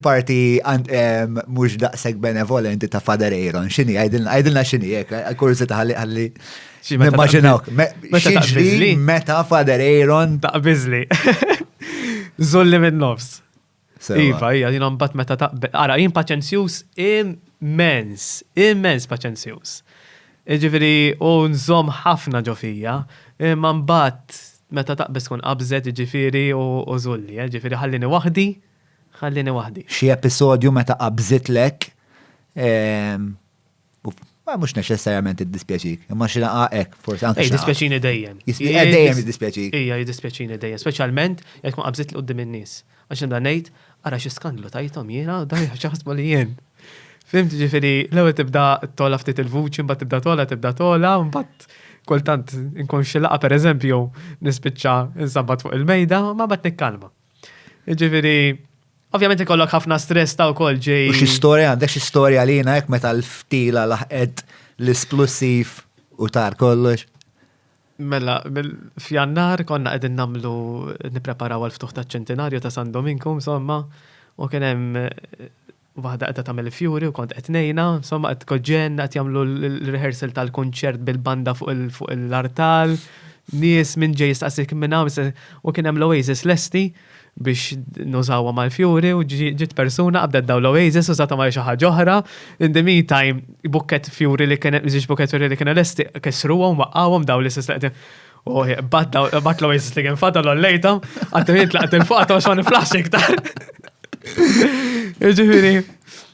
parti mhux daqshekk benevolenti ta' Father Aaron, x'inhi għajdilna x'inhi hekk, eh, kurżita ħalli ħalli. Nimmaġinawk, x'inhi meta Father Aaron taqbiżli. Zolli minn nofs. Iva, hija jien mbagħad meta taqbel. Ara, jien paċenzjuż immens, immens paċenzjuż. Ġifieri u nżomm ħafna ġofija, imma mbagħad Meta taqbeż tkun qabżet jiġifieri u żulli, jiġifieri ħallini waħdi, ħallini waħdi. Xi episodju meta qabżitlek u mhux neċessarjament iddispjaċik, imma xi laqgħa hekk forsi anke. Jiddispjaċini dejjem. Dejjem jiddispjaċik. Ija jiddispjaċini dejjem, speċjalment jekk tkun qabżitli quddiem in-nies. Għax nibda ngħid, ara xi skandlu tajthom jiena, dawn jaf x'jaħsbu li jien. Fhimt, ġifieri l-ewwel tibda togħla ftit il-vuċi, mbagħad tibda togħla, tibda togħla, mbagħad kultant inkun xi laqgħa pereżempju jew nispiċċa insabbat fuq il-mejda, ma mbagħad nikkalma. Ġifieri, ovvjament ikollok ħafna stress ta' wkoll ġej. U xi storja għandek xi storja għalina hekk meta l-ftila laħqet l-isplussiv u tar kollox? Mela, f'Jannar konna qegħdin nagħmlu nippreparaw għal ftuħ taċ-ċentinarju ta' San Dominku, insomma, u kien hemm waħda qiegħda tagħmel il-fjuri u kont qed ngħinha, insomma qed tkoġġen qed jagħmlu l-rehearsal tal-kunċert bil-banda fuq l-artal, nies minn ġej jistaqsik minn hawn u kien hemm l-Oasis lesti. biex nużawhom għall-fjuri u ġiet persuna qabdet dawn l-oasis użathom għal xi ħaġa oħra. In the meantime, bukkett fjuri li kien żewġ bukkett fjuri li kienu lesti kissruhom, waqqgħuhom dawn l-istess li qegħdin. U bat l-oasis li kien fadal ollejthom, għaddu jien tlaqt il-fuq għadhom xogħol niflax iktar. Ġifieri,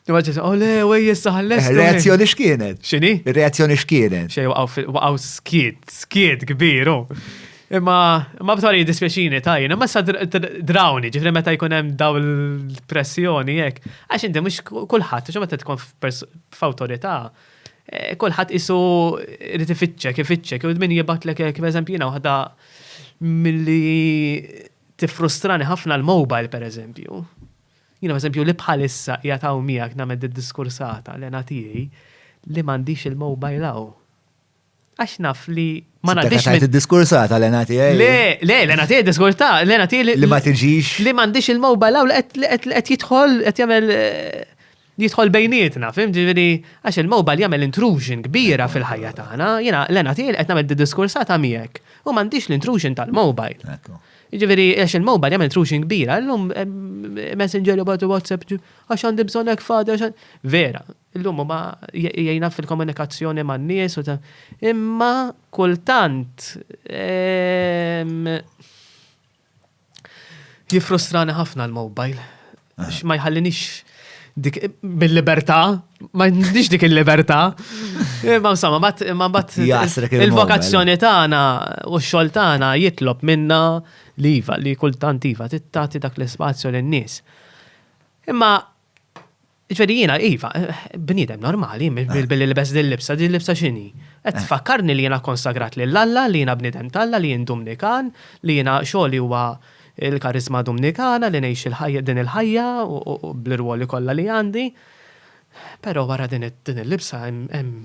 Maġġis, oh le, u jessa ħalles. Eh, reazzjoni x'kienet? X'inhi? Reazzjoni x'kienet? Xej waqgħu skiet, skiet kbiru. Oh. Imma, imma b'tali dispjaċini tajjin, imma sa drawni, ġifri meta jkun hemm daw l-pressjoni jekk. Għax inti mhux kulħadd, xi meta tkun f'awtorità, eh, kulħadd isu irid ifittxek, ifittxek, u min jibatlek hekk, eżempju jiena waħda milli tiffrustrani ħafna l-mobile pereżempju. Jiena eżempju li bħalissa qiegħed hawn miegħek nagħmel diskursata l-ena tiegħi li m'għandix il-mobile hawn. Għax naf li ma ngħaddix. Għajt id-diskursata l-ena tiegħi. Le, le, l-ena tiegħi diskursata, l-ena tiegħi li ma tiġix. Li m'għandix il-mobile għaw li qed jidħol qed jagħmel eh, jidħol bejnietna, fim ġifieri għax il-mobile jagħmel intrusion kbira fil-ħajja tagħna, jiena l-ena tiegħi qed nagħmel diskursata miegħek u m'għandix l-intrusion tal-mobile. Ġifieri għax il-mobile jagħmel intrusion kbira, llum eh, messenger u WhatsApp għax għandi bżonn hekk fadi Vera, Illum huma jgħinha fil-komunikazzjoni man-nies u imma kultant jiffrustrani ħafna l-mobile. Għax ma jħallinix dik bil-libertà, ma jħallinix dik il-libertà. Ma insomma, ma bat il-vokazzjoni tagħna u x-xogħol tagħna jitlob minna li iva, li kultant iva, tittati dak l-ispazju lin-nies. Imma Ġifieri jiena iva, bniedem normali, billi libest din libsa, din libsa x'inhi? Qed tfakkarni li jiena konsagrat lil Alla, li jiena bniedem t'Alla, li jien Dumnikan, li jiena xogħli huwa l-kariżma Dumnikana, li ngħix il-ħajja din il-ħajja bl-irwoli kollha li għandi. Però wara din il-libsa hemm